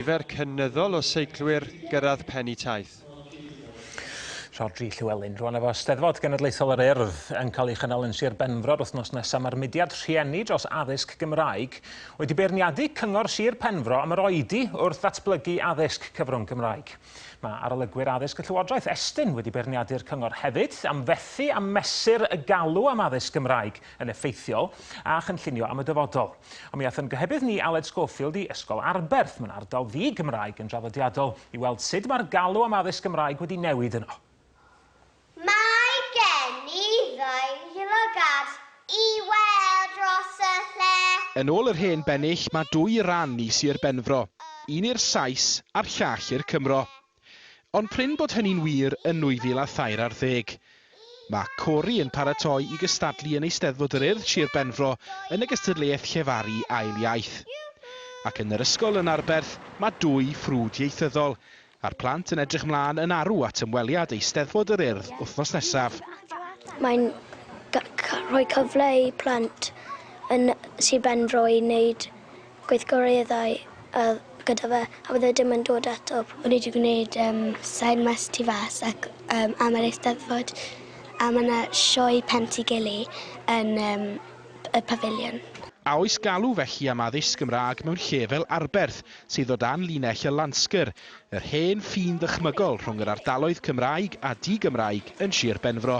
Nifer cynyddol o seiclwyr gyrraedd pen y taith. Rhodri Llywelyn. Rwan efo Steddfod Genedlaethol yr Urdd yn cael ei chynnal yn Sir Benfro'r wythnos nesaf, mae'r mudiad rhieni dros addysg Gymraeg wedi beirniadu Cyngor Sir Penfro am yr oedi wrth ddatblygu addysg cyfrwng Gymraeg. Mae arolygwyr addysg y Llywodraeth Estyn wedi beirniadu'r cyngor hefyd am fethu a mesur y galw am addysg Gymraeg yn effeithiol a chynllunio am y dyfodol. Ond mi aeth yn gohebydd ni Aled Schofield i Ysgol Arberth, mewn ardal ddi-Gymraeg yn draddodiadol, i weld sut mae'r galw am addysg Gymraeg wedi newid yno. Mae gen i ddau lygad i weld dros y lle. Yn ôl yr hen bennill mae dwy ran i Sir Benfro, un i'r Sais a'r llall i'r Cymro. Ond prin bod hynny'n wir yn 2003 ar ddeg. Mae Cory yn paratoi i gystadlu yn Eisteddfod yr Urdd Sir Benfro yn y gystadleuaeth llefaru ail iaith. Ac yn yr ysgol yn Arberth mae dwy ffrwd ieithyddol a'r plant yn edrych mlaen yn arw at ymweliad Eisteddfod yr Urdd wythnos nesaf. Mae'n rhoi cyfle i plant yn Sir Benfro i wneud Gweithgareddau oedd gyda fe a oedd e dim yn dod eto. O'n i 'di gwneud yym sain mas tu fas ac yym am yr Eisteddfod a ma' 'na sioe Penty Gili yn yym y Pafiliwn. A oes galw felly am addysg Gymraeg mewn lle fel Arberth, sydd o dan linell y Landsgyrr, yr hen ffin ddychmygol rhwng yr ardaloedd Cymraeg a di-Gymraeg yn Sir Benfro?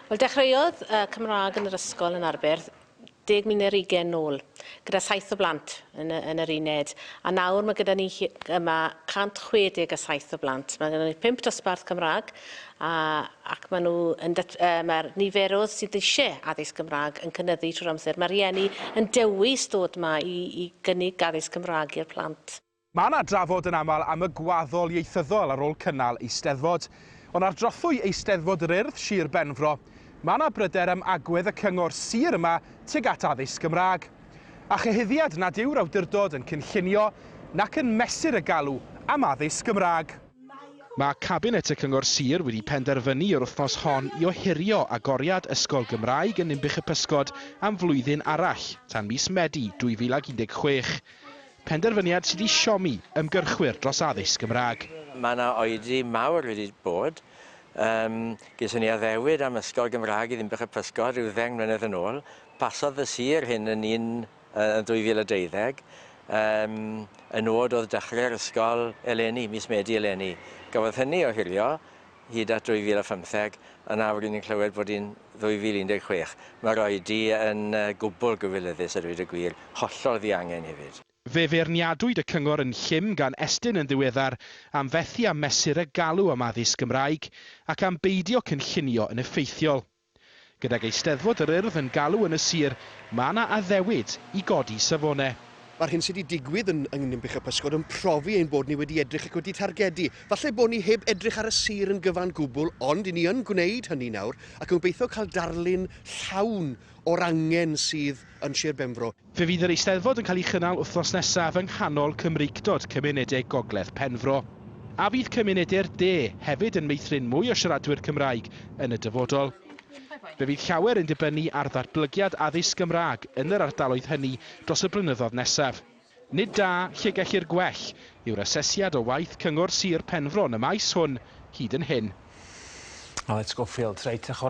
Wel, dechreuodd y Cymraeg yn yr ysgol yn Arberth deg mil neu'r ugain nôl, gyda saith o blant yn y, yn yr uned, a nawr mae gyda ni hi- yma 160 a saith o blant. Mae gyda ni pump dosbarth Cymraeg, a, ac maen nhw yn dat, uh, mae'r niferoedd sydd eisiau addysg Gymraeg yn cynyddu trwy'r amser. Mae rhieni yn dewis dod yma i, i gynnig addysg Cymraeg i'r plant. Mae yna drafod yn aml am y gwaddol ieithyddol ar ôl cynnal Eisteddfod. Ond ar drothwy Eisteddfod yr Urdd, Sir Benfro, mae yna bryder am agwedd y cyngor sir yma tuag at addysg Gymraeg. A chyhuddiad nad yw'r awdurdod yn cynllunio nac yn mesur y galw am addysg Gymraeg. Mae cabinet y cyngor sir wedi penderfynu yr wythnos hon i ohirio agoriad ysgol Gymraeg yn Ninbych-y-pysgod am flwyddyn arall, tan mis Medi 2016. Penderfyniad sydd i siomi ymgyrchwyr dros addysg Gymraeg. Mae yna oedi mawr wedi bod. Yym, ges i ni addewid am ysgol Gymraeg i Ddinbych y Pysgod rhyw ddeng mlynedd yn ôl. Pasodd y sir hyn yn un yy yn 2012. Yym, y nod oedd dechrau'r ysgol eleni, mis Medi eleni. Gafodd hynny ohirio. hyd at 2015, yn awr ry'n ni'n clywed bod hi'n 2016. Mae'r oedi yn gwbl gywilyddus a dweud y gwir, hollol ddiangen hefyd. Fe feirniadwyd y cyngor yn llym gan Estyn yn ddiweddar am fethu â mesur y galw am addysg Gymraeg ac am beidio cynllunio yn effeithiol. Gydag Eisteddfod yr Urdd yn galw yn y sir, mae yna addewid i godi safonau. Mae'r hyn sydd wedi digwydd yn yng Ninbych a Physgod yn profi ein bod ni wedi edrych ac wedi targedu. Falle bod ni heb edrych ar y sir yn gyfan gwbl ond 'yn ni yn gwneud hynny nawr ac yn gobeithio cael darlun llawn o'r angen sydd yn Sir Benfro. Fe fydd yr Eisteddfod yn cael ei chynnal wythnos nesaf yng nghanol Cymreictod cymuned de Gogledd Penfro. A fydd cymunede'r de hefyd yn meithrin mwy o siaradwyr Cymraeg yn y dyfodol? Fe fydd llawer yn dibynnu ar ddatblygiad addysg Gymraeg yn yr ardaloedd hynny dros y blynyddoedd nesaf. Nid da, lle gellir gwell, yw'r asesiad o waith Cyngor Sir Penfro yn y maes hwn hyd yn hyn. Alex Schofield, Reit, a chwarae